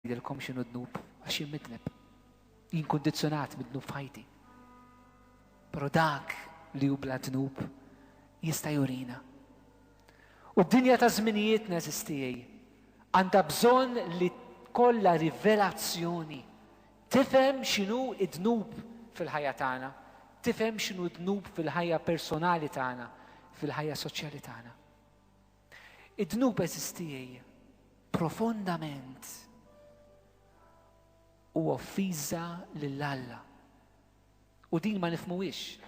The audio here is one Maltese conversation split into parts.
Ngħidilkom x'inhu d-dnub għax jien midneb. Jien kundizzjonat mid-dnub f'ħajti. Però dak li hu bla dnub jista' jurina. U d-dinja ta' żminijiet neżistijej għandha bżonn li kollha rivelazzjoni tifhem x'inhu d-dnub fil-ħajja tagħna, tifhem x'inhu d-dnub fil-ħajja personali tagħna, fil-ħajja soċjali tagħna. Id-dnub għeżież tiegħi profondament u offiża lil Alla. U din ma nifmuwix.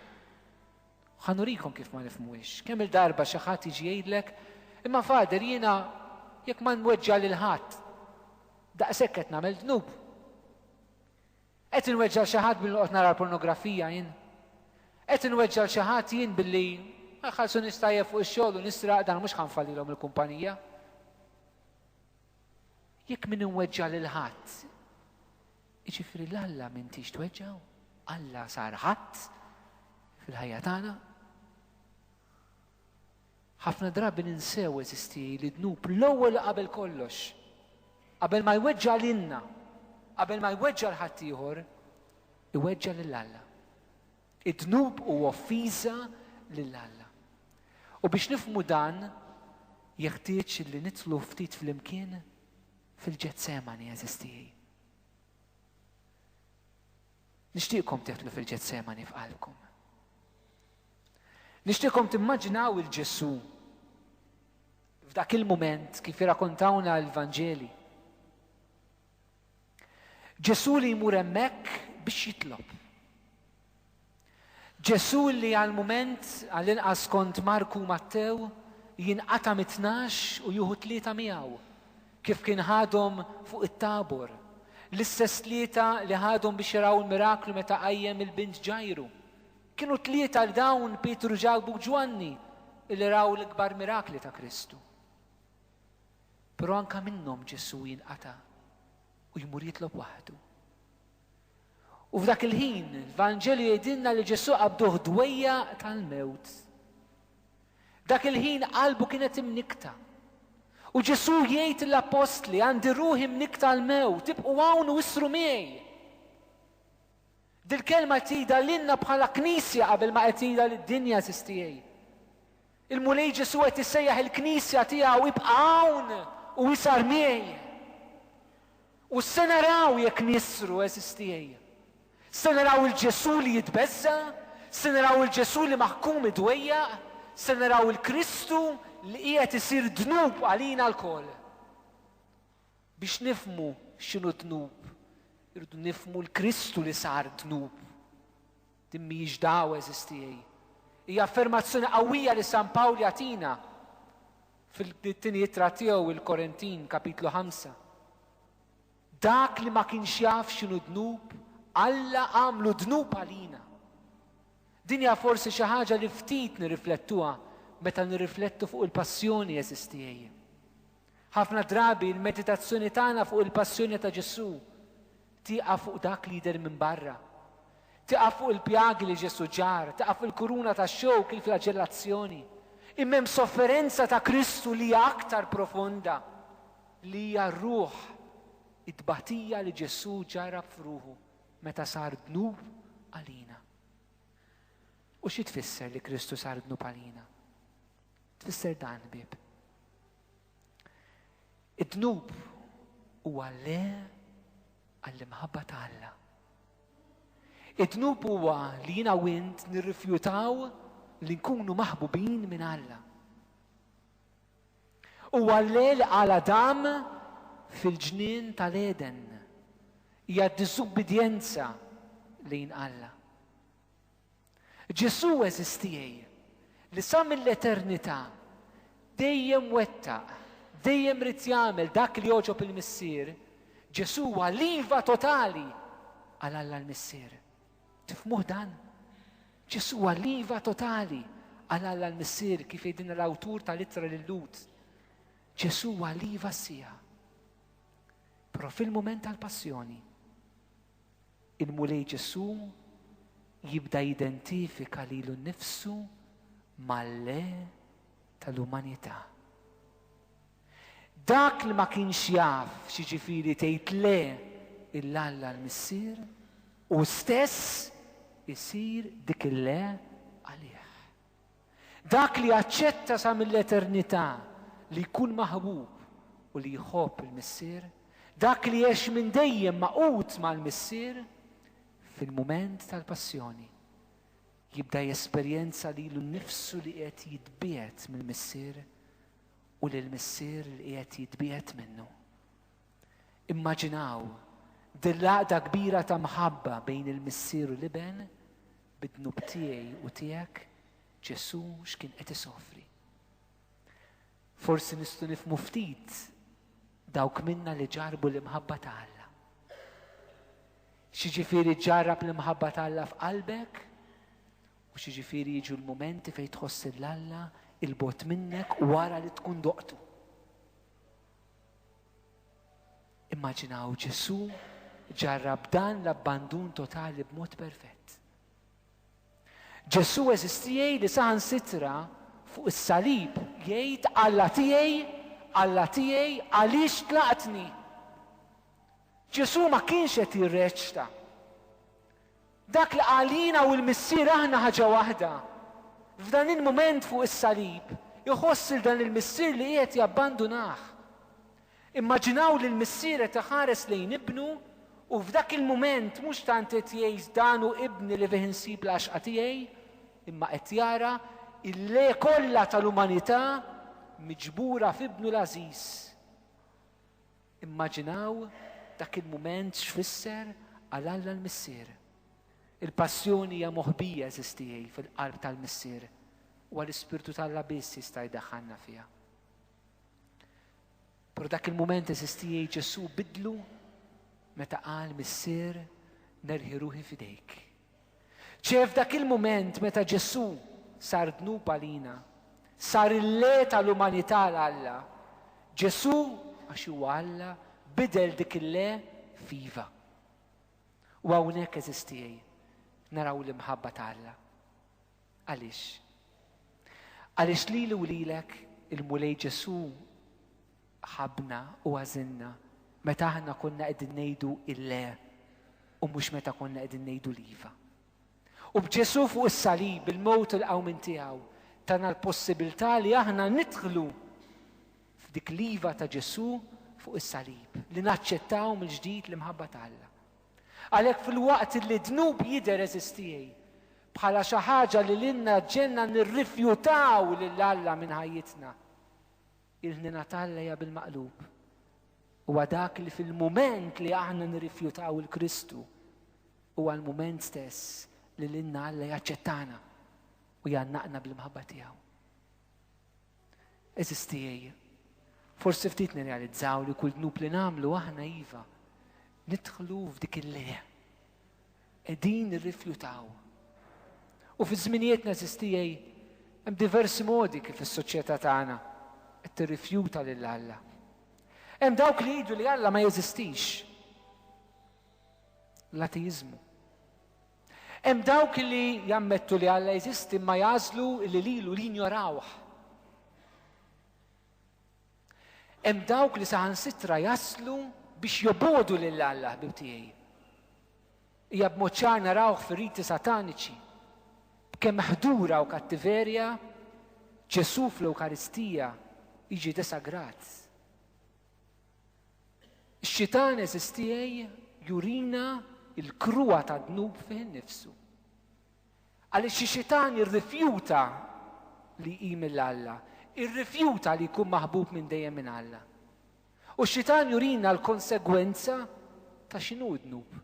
Ħanurikom kif ma nifmuwix. Kemm il-darba xi ħadd jiġi jgħidlek, imma fader jiena jekk ma nweġġa' lil ħadd, daqshekk qed nagħmel dnub. Qed inweġġa' 'l xi ħadd billi noqgħod nara l-pornografija jien? Qed inweġġa' 'l xi ħadd jien billi ma jħallsunix tajjeb fuq ix-xogħol u nisraq dan mhux ħa nfallilhom il-kumpanija? Jekk min inweġġa' lil ħadd, jiġifieri 'l Alla m'intix tweġġgħu? Alla sar ħadd fil-ħajja tagħna? Ħafna drabi ninsew, għeżiżti, li d-dnub l-ewwel qabel kollox, qabel ma jweġġa' lilna, qabel ma jweġġa' 'l ħaddieħor, iweġġa' lil Alla. Id-dnub hu offiża lil Alla. U biex nifhmu dan, jeħtieġ li nidħlu ftit flimkien fil-Ġetsemani, għeżiżti. Nixtieqkom teħdlu fil-Ġetsemani f'qalbkom. Nixtieqkom timmaġinaw il-Ġesu f'dak il-mument kif irrakontawna l-Vanġeli. Ġesu li jmur hemmhekk biex jitlob. Ġesù li għal mument, għall-inqas skont Marku u Mattew, jinqata' mit-tnax u jieħu tlieta miegħu, kif kien ħadhom fuq it-Tabor, l-istess tlieta li ħadhom biex jaraw il-miraklu meta qajjem il-bint Ġajru. Kienu tlieta li dawn Pietru, Ġakbu u Ġwanni li raw l-ikbar mirakli ta' Kristu. Però anke minnhom Ġesù jinqata' u jmur jitlob waħdu. U f'dak il-ħin, l-Vanġelu jgħidilna li Ġesù qabduh dwejjaq tal-mewt. Dak il-ħin qalbu kienet imnikkta. U Ġesù jgħid l-appostli, għandi ruħi mnikkta l-mewt, tibqu hawn u issru miegħi. Dil-kelma tida lilna bħala knisja qabel ma qed tida lid-dinja sistiegħi. Il-Mulej Ġesù qed isejjaħ il-Knisja tiegħu ibqa' hawn u isar miegħi. U se naraw jekk nisru, eżis tiegħi. Se naraw il-Ġesù li jitbeżża, se naraw il-Ġesù li maħkum idwejjaq, se naraw il-Kristu li qiegħed isir dnub għalina lkoll. Biex nifhmu x'inhu d-dnub, irridu nifhmu l-Kristu li sar dnub. Din mhijiex dagħwa eżistieji. Hija affermazzjoni qawwija li San Pawl jagħtina fil-tieni ittra tiegħu il-Korintin, kapitlu ħamsa. Dak li ma kienx jaf x'inhu dnub, Alla għamlu dnub għalina. Din hija forsi xi ħaġa li ftit nirriflettuha meta nirriflettu fuq il-passjoni eżistieji. Ħafna drabi l-meditazzjoni tagħna fuq il-passjoni ta' Ġesù tieqaf fuq dak li jidher minn barra. Tieqaf fuq il-pjagi li Ġesù ġarr, tieqaf fil-kuruna tax-xewk, il-flaġellazzjoni. Imma hemm sofferenza ta' Kristu li hija aktar profonda, li hija r-ruħ, it-tbatija li Ġesù ġarrab f'ruħu meta sar dnub għalina. U xi tfisser li Kristu sar dnub għalina? Tfisser dan bib. Id-dnub huwa le għall-imħabba ta' Alla. Id-dnub huwa li jina u int nirrifjutaw li nkunu maħbubin minn Alla. U għalle li għala dam fil-ġnien tal-Eden hija diżubbidjenza lejn Alla. Ġesù għeżież tiegħi, li sa mill-eternità dejjem wettaq, dejjem ried jagħmel dak li jogħġob il-Missier, Ġesù huwa l-iva totali għal Alla l-Missier. Tifhmuh dan? Ġesù huwa l-iva totali għal Alla l-Missier kif jgħidilna l-awtur tal-ittra lil Lut. Ġesù huwa l-iva sija. Però fil-mument tal-passjoni, Il-Mulej Ġesù jibda jidentifika lilu nnifsu mal-Le tal-umanità. Dak li ma kienx jaf x'jiġifieri tgħid le il Alla l-Missier, hu stess isir dik il-le għalih. Dak li jaċċetta sa mill-eternità li jkun maħbub u li jħobb il-Missier, dak li jgħix minn dejjem magħqud mal-Missier, fil-mument tal-Passjoni jibda jesperjenza lilu nnifsu li qiegħed jitbiegħed mill-Missier u lill-Missier li qiegħed jitbiegħed minnu. Immaġinaw din l-għaqda kbira ta' mħabba bejn il-Missier u l-Iben bid-dnub tiegħi u tiegħek Ġesù x'kien qed isofri. Forsi nistgħu nifmu ftit dawk minna li ġarbu l-imħabba ta' Alla. Xiġifieri ġarrab l-imħabba ta' Alla f'qalbek u xiġifieri jiġu l-momenti fejn tħoss l-Alla il-bot minnek wara li tkun doqtu. Immaġinaw Ġesù ġarrab dan l-abbandun totali b'mod perfett. Ġesù eżistijaj li saħan sitra fuq is-salib jgħid Alla tiegħi, Alla tiegħi għaliex tlaqtni. Ġesù ma kienx qed jirreċta. Dak li qal jiena u l-Missier aħna ħaġa waħda. F'dan il-mument fuq is-salib, iħoss lil dan il-missier li qiegħed jabbandunah. Immaġinaw lill-missier qed iħares lejn ibnu u f'dak il-mument mhux tant qed jgħid dan hu ibni li fih insib l-għaxqa tiegħi, imma qed jara il-le kollha tal-umanità miġbura f'ibnu l-għażiż. Immaġinaw dak il-mument x'fisser għal Alla l-Missier. Il-Passjoni hija moħbija, għeżież tiegħi, fil-qalb tal-Missier, huwa l-Ispirtu t'Alla biss jista' jdaħħalna fiha. Però dak il-mument għeżież tiegħi Ġesù bidlu meta qal Missier nerħi ruħi f'idejk. Ċe f'dak il-mument meta Ġesù sar dnub għalina, sar il-Re tal-umanità għal Alla, Ġesù, għax huwa Alla, bidel dik il-Le f'iva. U hawnhekk, għeżież tiegħi, naraw l-imħabba ta' Alla. Għaliex? Għaliex lili u lilek il-Mulej Ġesù ħabbna u għażilna meta aħna konna qegħdin ngħidu il-le u mhux meta konna qegħdin ngħidu l-iva. U b'Ġesù fuq is-salib, il-mewt u l-qawmin tiegħu, tana l-possibilità li aħna nidħlu f'dik l-iva ta' Ġesù fuq is-salib, li naċċettaw mill-ġdid l-imħabba ta' Alla. Għalhekk fil-waqt li dnub jidher eżistijej, bħala xi ħaġa li lilna ġenna nirrifjutaw lil Alla minn ħajjitna. Il-ħniena t'Alla hija bil-maqlub. Huwa dak li fil-mument li aħna nirrifjutaw il-Kristu, huwa l-mument stess li lilna Alla jaċċettana u jannaqna bl-imħabba tiegħu. Eżis tiegħi, forsi ftit nirrealizzaw li kull dnub li nagħmlu aħna iva, nidħlu f'dik il-leja. qegħdin nirrifjutaw. U fiż-żminijiet neżistijej hemm diversi modi kif is-soċjetà tagħna qed tirrifjuta lil Alla. Hemm dawk li jgħidu li Alla ma jeżistix. L-ateiżmu. Hemm dawk li jammettu li Alla jeżisti ma jagħżlu li lilu li jinjorawh. Hemm dawk li saħansitra jaslu biex jobogħdu lil Alla, ħbieb tiegħi. Hija b'mod ċar narawh fir-riti sataniċi. B'kemm ħdura u kattiverja, Ġesù fl-Ewkaristija jiġi desagrat. Ix-xitan eżistiegħi jurina l-kruha tad-dnub fih innifsu. Għaliex xi xitan irrifjuta li jqim lil Alla, irrifjuta li jkun maħbub minn dejjem minn Alla. U x-xitan jurina l-konsegwenza ta' x'inhu d-dnub.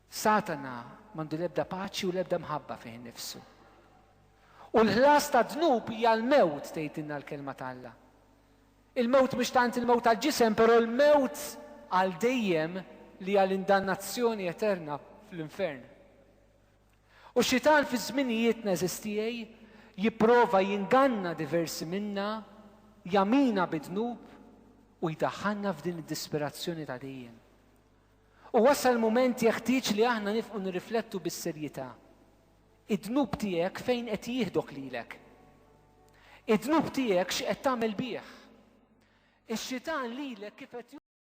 Satana m'għandu l-ebda paċi u l-ebda mħabba fih innifsu. U l-ħlas tad-dnub hija l-mewt tgħidilna l-Kelma t'Alla. Il-mewt mhux tant il-mewt għall-ġisem, però l-mewt għal dejjem li hija l-indannazzjoni eterna fl-infern. U x-Xitan fi żminijietna, għeżież tiegħi, jipprova jinganna diversi minna, jagħmina bid-dnub u jdaħħalna f'din id-disperazzjoni ta' dejjem. U wasal mument jeħtieġ li aħna nifqu nirriflettu bis-serjità Id-dnub tiegħek fejn qed jieħdok lilek? Id-dnub tiegħek x'qed tagħmel bih? Ix-Xitan lilek kif qed